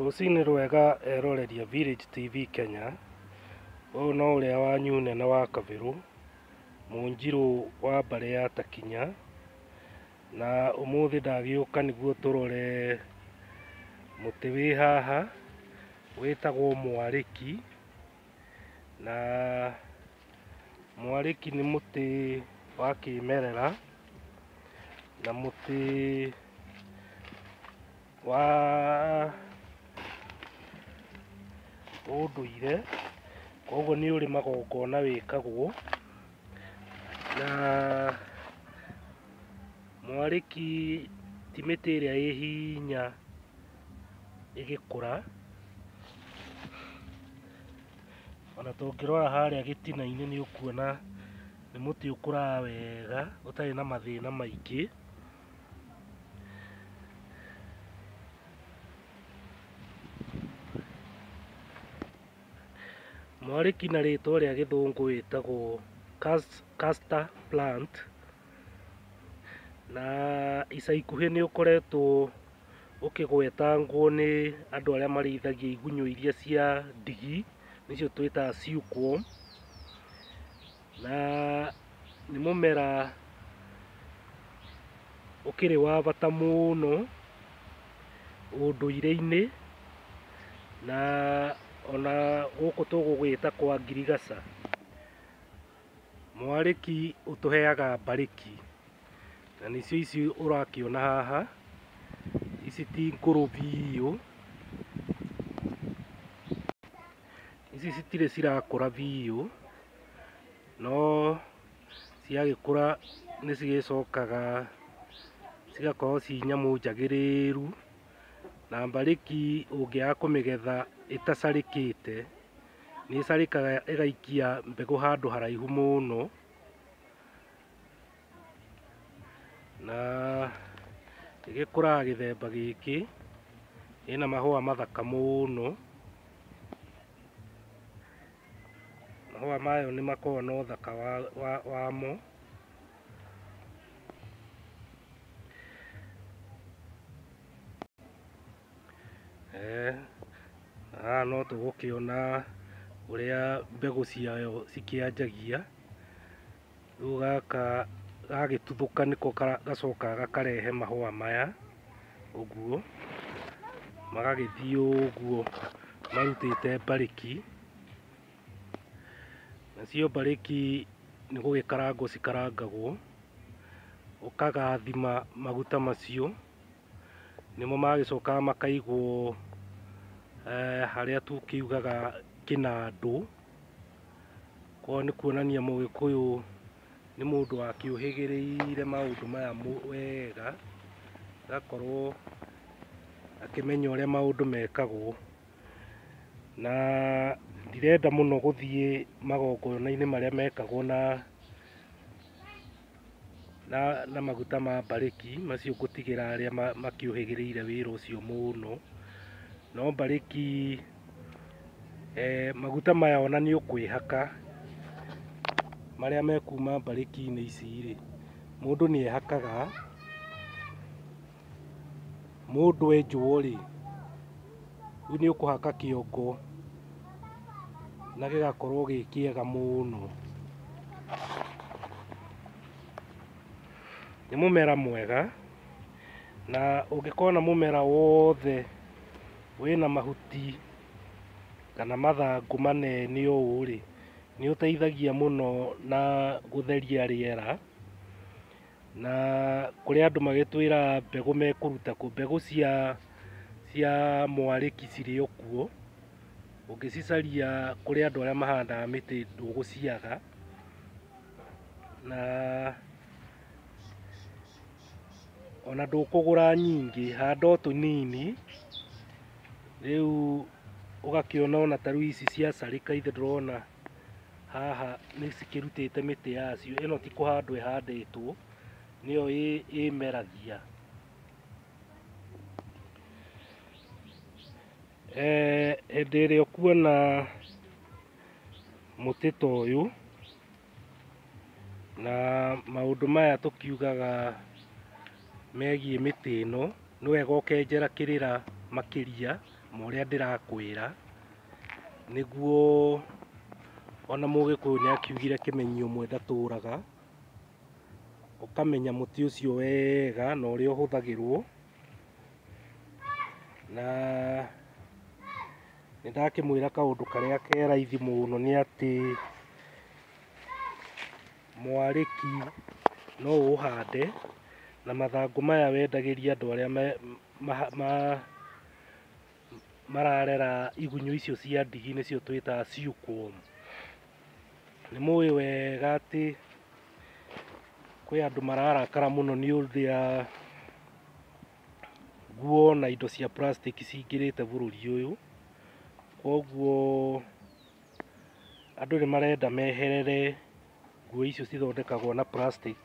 Rũcinĩ rwega eroreria Village TV Kenya, ũyũ no ũrĩa wanyu nene wa Kabirũ, Mũnjirũ wa mbarĩ ya Takinya, na ũmũthĩ ndagĩũka nĩguo tũrore mũtĩ wĩ haha wĩtagwo mwarĩki, na Mwarĩki nĩ mũtĩ wa kĩmerera na mũtĩ wa ũndũire, koguo nĩ ũrĩ magongona wĩkagwo. Na mwarĩki ti mĩtĩ ĩrĩa ĩ hinya ĩgĩkũra. Ona tũngĩrora harĩa gĩtina-inĩ nĩ ũkuona nĩ mũtĩ ũkũraga wega ũtarĩ na mathĩna maingĩ. Mwarĩki na rĩtwa rĩa gĩthũngũ wĩtagwo Castor Plant, na ica ikuhĩ nĩ ũkoretwo ũkĩgwetangwo nĩ andũ arĩa marĩithagia igunyũ iria cia ndigi nĩcio twĩtaga silkworm na nĩ mũmera ũkĩrĩ wa bata mũno ũndũire-inĩ na ona gũkũ tũgũgĩta kwa ngirigaca. Mwarĩki ũtũheaga mbarĩki, na nĩcio ici ũrakĩona haha, ici ti ngũrũ biũ, ici citirĩ cirakũra biũ, no ciagĩkũra nĩ cigĩcokaga cigakorwo ci nyamũ njagĩrĩru, na mbarĩki ũngĩaga kũmĩgetha ĩtacarĩkĩte. nĩ ĩcarĩkaga ĩgaikia mbegũ handũ haraihu mũno na ĩgĩkũraga gĩthemba gĩkĩ ĩna mahũa mathaka mũno mahũa mayo nĩ makoragwo na ũthaka wa- wa- wamo Eeh, haha no tũgũkĩona ũrĩa mbegũ ciayo cikĩanjagia, rĩu gaka gagĩtuthũka nĩko gacokaga gakarehe mahũa maya ũguo, magagĩthiĩ ũguo marutĩte mbarĩki, nacio mbarĩki nĩ gũgĩkarangwo cikarangagwo, ũkagathima maguta macio. nĩmo magĩcokaga makaigwo eh, harĩa tũkiugaga kĩnandũ kwao nĩ kuonania mũgĩkũyũ nĩ mũndũ wakĩũhĩgĩrĩire maũndũ maya mũ- wega agakorwo akĩmenya ũrĩa maũndũ mekagwo na ndirenda mũno gũthiĩ magongona-inĩ marĩa mekagwo na na, na maguta ma mbarĩki macio ngũtigĩra arĩa ma- makĩũhĩgĩrĩire wĩra ũcio mũno no mbarĩki eh, maguta maya ona nĩ ũkwĩhaka marĩa mekuma mbarĩki-inĩ ici rĩ mũndũ nĩ ehakaga Mũndũ enjwo rĩ, rĩu nĩ ũkũhaka kĩongo na gĩgakorwo gĩ kĩega mũno. Nĩ mũmera mwega na ũngĩkona mũmera wothe wĩna mahuti kana mathangũ manene ũũ rĩ, nĩ ũteithagia mũno na gũtheria rĩera. na kũrĩ andũ magĩtwĩra mbegũ mekũruta kũ mbegũ cia cia mwarĩki cirĩ o kuo ũngĩcicaria kũrĩ andũ arĩa mahandaga mĩtĩ ndũgũciaga na ona ndũkũgũra nyingĩ handa o tũnini rĩu ũgakĩona ona ta rĩu ici cia carĩka ithe ndũrona haha nĩ cikĩrutĩte mĩtĩ yacio ĩno ti kũhandwo ĩhandĩtwo nĩyo ĩ- ĩmeragia Eh, hĩndĩ ĩrĩa ũkuona mũtĩ ta ũyũ na maũndũ maya tũkiugaga megiĩ mĩtĩ ĩno nĩ wega ũkenjera kĩrĩra makĩria ma ũrĩa ndĩrakwĩra nĩguo ona mũgĩkũyũ nĩ akiugire kĩmenyi ũmwe ndatũraga, ũkamenya mũtĩ ũcio wega na ũrĩa ũhũthagĩrwo, na nĩ ndakĩmwĩra kaũndũ karĩa ke raithi mũno nĩ atĩ, mwarĩki no ũũhande na mathangũ maya wendagĩrie andũ arĩa mararera igunyũ icio cia ndigi nĩcio twĩtaga silkworm. Nĩ mũĩ wega atĩ kwĩ andũ mararakara mũno nĩ ũrĩa nguo na indo cia plastic cingĩrĩte bũrũri ũyũ, koguo Andũ nĩ marenda meherere nguo icio cithondekagwo na plastic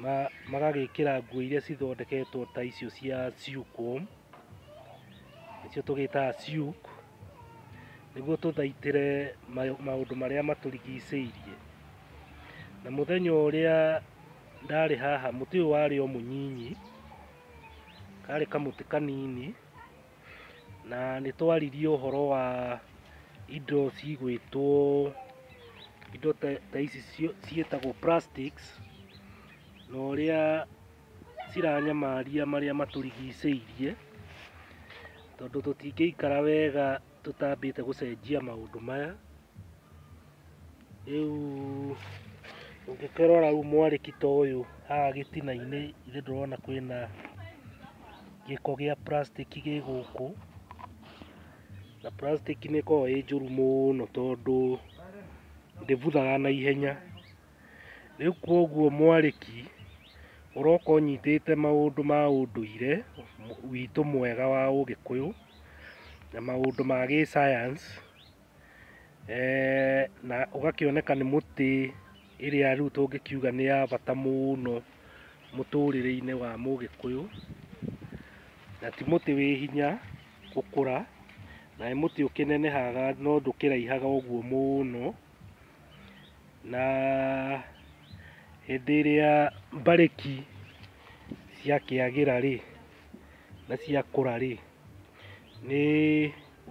na magagĩkĩra nguo iria cithondeketwo ta icio cia silkworm, nĩcio tũgĩtaga silk, nĩguo tũthaitĩre maũndũ marĩa matũrigicĩirie. Na mũthenya ũrĩa ndarĩ haha mũtĩ ũyũ warĩ o mũnyinyi, karĩ kamũtĩ kanini. na nĩ twaririe ũhoro wa indo cigwĩtwo indo ta ici ciĩtagwo plastics na ũrĩa ciranyamaria marĩa matũrigicĩirie tondũ tũtingĩikara wega tũtambĩte gũcenjia maũndũ maya. Rĩu ũngĩkĩrora rĩu mwarĩki ta ũyũ haha gĩtina-inĩ ithe ndũrona kwĩna gĩko gĩa plastic gĩ gũkũ na plastic nĩ ĩkoragwo ĩ njũru mũno tondũ ndĩbuthaga na ihenya. Rĩu koguo mwarĩki ũroka ũnyitĩte maũndũ ma ũndũire witũ mwega wa ũgĩkũyũ na maũndũ ma gĩ science. eh, na ũgakĩoneka nĩ mũtĩ ĩrĩa rĩu tũngĩkiuga nĩ ya bata mũno mũtũrĩre-inĩ wa mũgĩkũyũ na ti mũtĩ wĩ hinya gũkũra na nĩ mũtĩ ũkĩnenehaga no ndũkĩraihaga ũguo mũno na hĩndĩ ĩrĩa mbarĩki ciakĩagĩra rĩ na ciakũra rĩ nĩ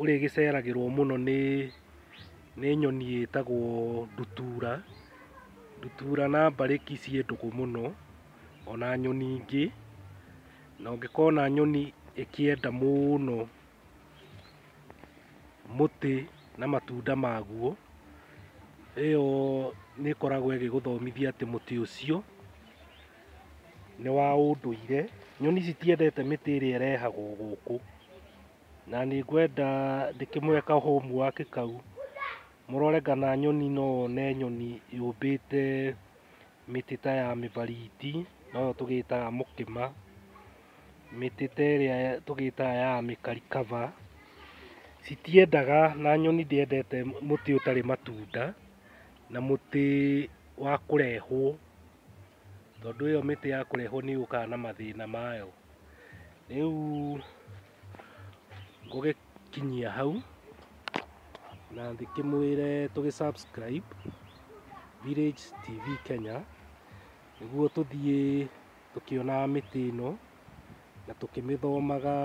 ũrĩa ĩgĩceragĩrwo mũno nĩ nĩ nyoni ĩtagwo ndutura, ndutura na mbarĩki ciĩ ndũgũ mũno, ona nyoni ingĩ, na ũngĩkona nyoni ĩkĩenda mũno mũtĩ na matunda maguo, ĩyo nĩ ĩkoragwo ĩgĩgũthomithia atĩ mũtĩ ũcio nĩ wa ũndũire. Nyoni citiendete mĩtĩ ĩrĩa ĩrehagwo gũkũ. na nĩ ngwenda ndĩkĩmũhe ka homework kau mũrore kana nyoni no one nyoni yũmbĩte mĩtĩ ta ya mĩbariti noyo tũgĩtaga mũkĩma mĩtĩ ta ĩrĩa tũgĩtaga ya mĩkarikaba citiendaga na nyoni ndĩendete mũtĩ ũtarĩ matunda na mũtĩ wa kũrehwo. tondũ ĩyo mĩtĩ ya kũrehwo nĩ yũkaga na mathĩna mayo. Rĩu ngũgĩkinyia hau na ndĩkĩmwĩre tũgĩ subscribe Village TV Kenya nĩguo tũthiĩ tũkĩonaga mĩtĩ ĩno na tũkĩmĩthomaga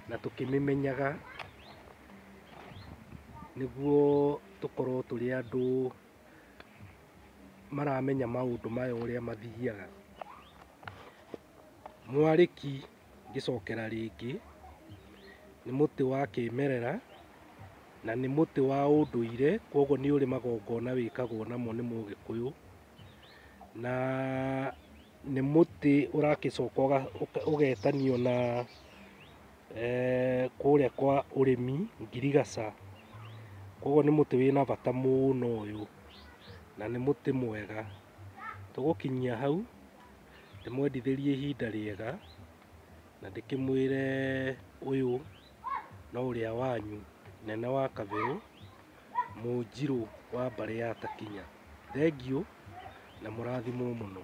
na tũkĩmĩmenyaga nĩguo tũkorwo tũrĩ andũ. maramenya maũndũ maya ũrĩa mathiaga. Mwarĩki ngĩcokera rĩngĩ nĩ mũtĩ wa kĩmerera na nĩ mũtĩ wa ũndũire kwoguo nĩ ũrĩ magongona wĩkagwo namo nĩ mũgĩkũyũ na nĩ mũtĩ ũragĩcoka ũgetanio na eh, kũrĩa kwa ũrĩmi ngirigaca koguo nĩ mũtĩ wĩna bata mũno ũyũ na nĩ mũtĩ mwega tũgũkinyia hau ndĩmwendithĩrie ihinda rĩega na ndĩkĩmwĩre ũyũ no ũrĩa wanyu nene wa kabĩrũ Mũnjirũ wa mbarĩ ya Takinya. Thengiũ na mũrathimwo mũno.